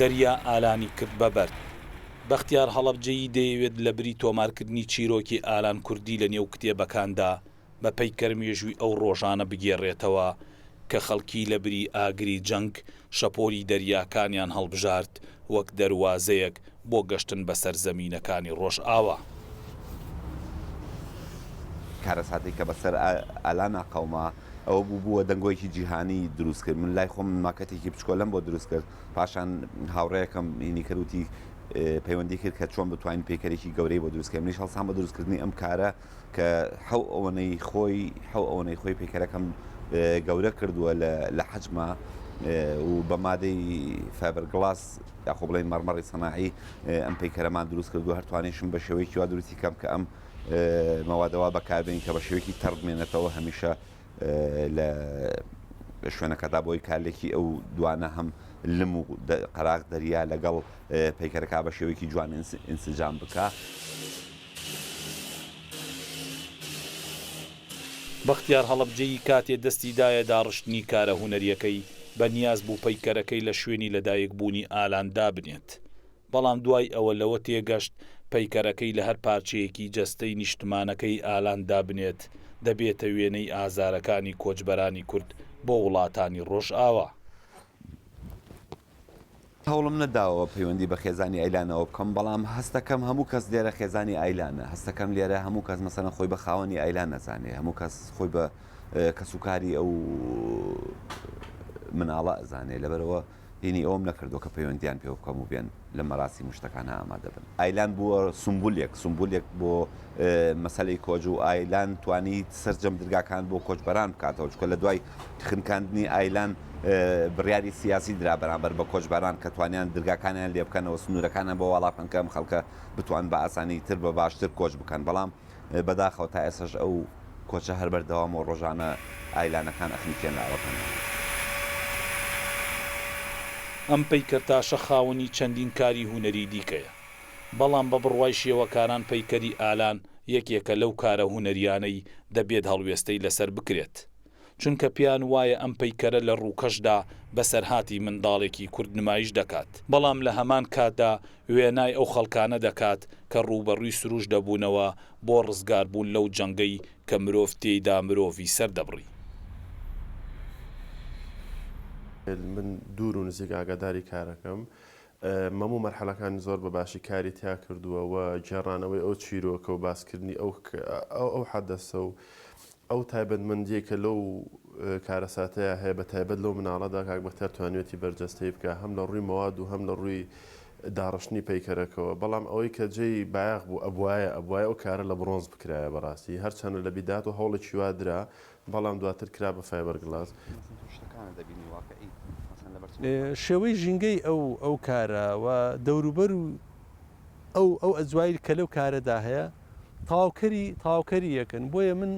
دەریا ئالانی کرد بە بەرد. بەختیار هەڵەبجەیی دەیەوێت لەبری تۆمارکردنی چیرۆکی ئالان کوردی لەنێو کتێبەکاندا، بە پەیکەر مێژووی ئەو ڕۆژانە بگێڕێتەوە کە خەڵکی لە بری ئاگری جەنگ شەپۆلی دەریاکانیان هەڵبژارد وەک دەروازەیەک بۆ گەشتن بە سەرزەمینەکانی ڕۆژئاوا. کارەساتێک کە بەسەر ئالانا قەوما، ئەوە بوو بووە دەنگۆیەکی جیهانی دروست کرد. من لای خۆم ماکەتێکی بچکۆلەم بۆ دروست کرد، پاشان هاوڕێیەکەم هینی کرد وتی پەیوەندی کرد کە چۆن بتوانین پەیکەرێکی گەورەی بۆ دروست کەین، منیش هەڵسام بە دروستکردنی ئەم کارە. کە حەو ئەوەنەی خۆی حەو ئەوەنەی خۆی پەیکەرەکەم گەورە کردووە لە حەجما و بە مادەی فابەر گڵاس یاخۆ بڵێن مەرمەڕی سەناعی ئەم پەیکەرەمان دروست کردو هەرتوانیشم بە شێوەیەکی وا دروستی کەم کە ئەم مەوادەوە بەکاربین کە بە شێوەیەکی تەڕبمێنێتەوە هەمیشە لە شوێنەکەدا بۆی کارلێکی ئەو دوانە هەم لم و قەراغ دەریا لەگەڵ پەیکەرەکە بە شێوەیەکی جوان ئینسجام بکە. بەختیار هەڵەبجەیی کاتێ دەستی دایە داڕشتنی کارە هونەریەکەی، بە نیاز بوو پەیکەرەکەی لە شوێنی لەدایک بوونی ئالان دابنێت. بەڵام دوای ئەوە لەوە تێگەشت پەیکەرەکەی لە هەر پارچەیەکی جەستەی نیشتمانەکەی ئالان دابنێت دەبێتە وێنەی ئازارەکانی کۆچبەرانی کورد بۆ وڵاتانی ڕۆژئاوا. هەوڵم نەداوە پەیوەندی بە خێزانی ئایلانەوە بکەم بەڵام هەستەکەم هەموو کەس لێرە خێزانی ئایلانە هەستەکەم لێرە هەموو کەس مەسەلەن خۆی بە خاوەنی ئایلان نەزانێ هەموو کەس خۆی بە کەسوکاری ئەو مناڵە ئەزانێ لەبەرەوە هینی ئەوم نەکردو کە پەیوەندیان پێ بکەم و بێن لە مەراسی مشتەکان ئامادەبن ئایلان بووە سمبولێک سمبولێک بۆ مەسلەی کۆج و ئایلان توانی سرجەم درگاکان بۆ کۆچبەران بکاتەوە چکە لە دوای خنکاندنی ئایلان بڕیاری سیاسی درا بەرامبەر بە کۆچبەران کە توانیان درگاکانیان لێ بکەنەوە سنوورەکانیان بۆ واڵا بکەن کە ئەم خەڵکە بتوان بە ئاسانی تر بە باشتر کۆچ بکەن بەڵام بەداخەوە تا ئێسەش ئەو کۆچە هەر بەردەوام و ڕۆژانە ئایلانەکان ئەخنکێن لە ئەوەکەن. ئەم پەیکەرتاشە خاوەنی چەندین کاری هونەری دیکەیە بەڵام بە بڕوای شێوەکاران پەیکەری ئالان یەکێکە لەو کارە هونەریانەی دەبێت هەڵوێستەی لەسەر بکرێت. چونکە پێیان وایە ئەم پەیکەرە لە ڕووکەشدا بەسەرهاتی منداڵێکی کورد نمایش دەکات، بەڵام لە هەمان کاتدا وێنای ئەو خەڵکانە دەکات کە ڕووبەڕووی سرووش دەبوونەوە بۆ ڕزگاربوون لەو جەنگەی کە مرۆڤ تێیدا مرۆڤی سەردەبڕی. من دوور و نزیک ئاگاداری کارەکەم، مەموو مەرحەلەکانی زۆر بە باشی کاری تیا کردووە و گێڕانەوەی ئەو چیرۆکە و باسکردنی ئەو ئەو حەدەسە و ئەو تایبەتمەندیەی کە لەو کارەساتەیا هەیە بە تایبەت لەو مناڵەدا کاک بەختیار توانیوێتی بەرجەستەی بکا هەم لە ڕووی مەواد و هەم لە ڕووی داڕشتنی پەیکەرەکەوە بەڵام ئەوەی کە جێی بایەخ بوو ئەبوایە ئەبوایە ئەو کارە لە بڕۆنز بکرایە بەڕاستی هەر چەنە لە بیدات و هەوڵێکی وا درا بەڵام دواتر کرا بە فایبەر گڵاس. شێوەی ژینگەی ئەو ئەو کارە و دەوروبەر و ئەو ئەو ئەجوایل کە لەو کارەدا هەیە تاوکەری تاوکەری یەکن بۆیە من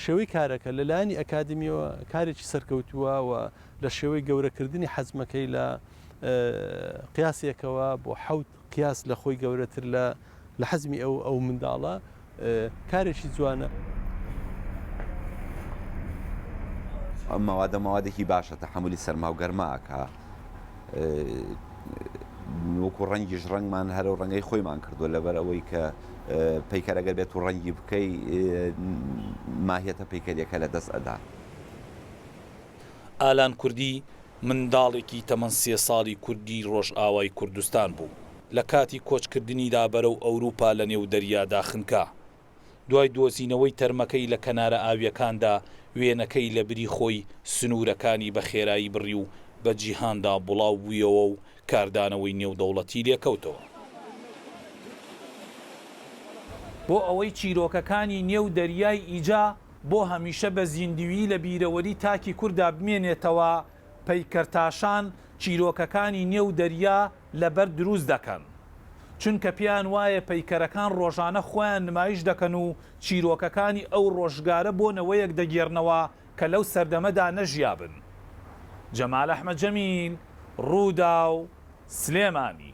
شێوەی کارەکە لەلایەنی ئەکادمیەوە کارێکی سەرکەوتووە و لە شێوەی گەورەکردنی حەزمەکەی لە قیاسێکەوە بۆ حەوت قیاس لە خۆی گەورەتر لە لە حەزمی ئەو ئەو منداڵە کارێکی جوانە. ئەم مەوادە مەوادێکی باشە تەحملی سەرما و گەرماکە وەکو ڕەنگیش ڕەنگمان هەرە و ڕەنگەی خۆیمان کردووە لەبەر ئەوەی کە پەیکەرەگە بێت و ڕەنگی بکەی ماهێتە پەیکەریەکە لە دەست ئەدا. ئالان کوردی منداڵێکی تەمەن سێ ساڵی کوردی ڕۆژئاوای کوردستان بوو، لە کاتی کۆچکردنیدا بەرەو ئەوروپا لە نێو دەریادا خنکا. دوای دۆزینەوەی تەرمەکەی لە کەنارە ئاوییەکاندا، وێنەکەی لە بری خۆی سنوورەکانی بە خێرایی بڕی و بە جیهاندا بڵاو بوویەوە و کاردانەوەی نێودەوڵەتی لێ کەوتەوە. بۆ ئەوەی چیرۆکەکانی نێو دەریای ئیجە، بۆ هەمیشە بە زیندویی لە بیرەوەری تاکی کوردا بمێنێتەوە، پەیکەرتاشان چیرۆکەکانی نێو دەریا لە بەرد دروست دەکەن، چونکە پێیان وایە پەیکەرەکان ڕۆژانە خۆیان نمایش دەکەن و چیرۆکەکانی ئەو ڕۆژگارە بۆ نەوەیەک دەگێڕنەوە کە لەو سەردەمەدا نەژیابن. جەمال ئەحمەد جەمیل، رووداو، سلێمانی.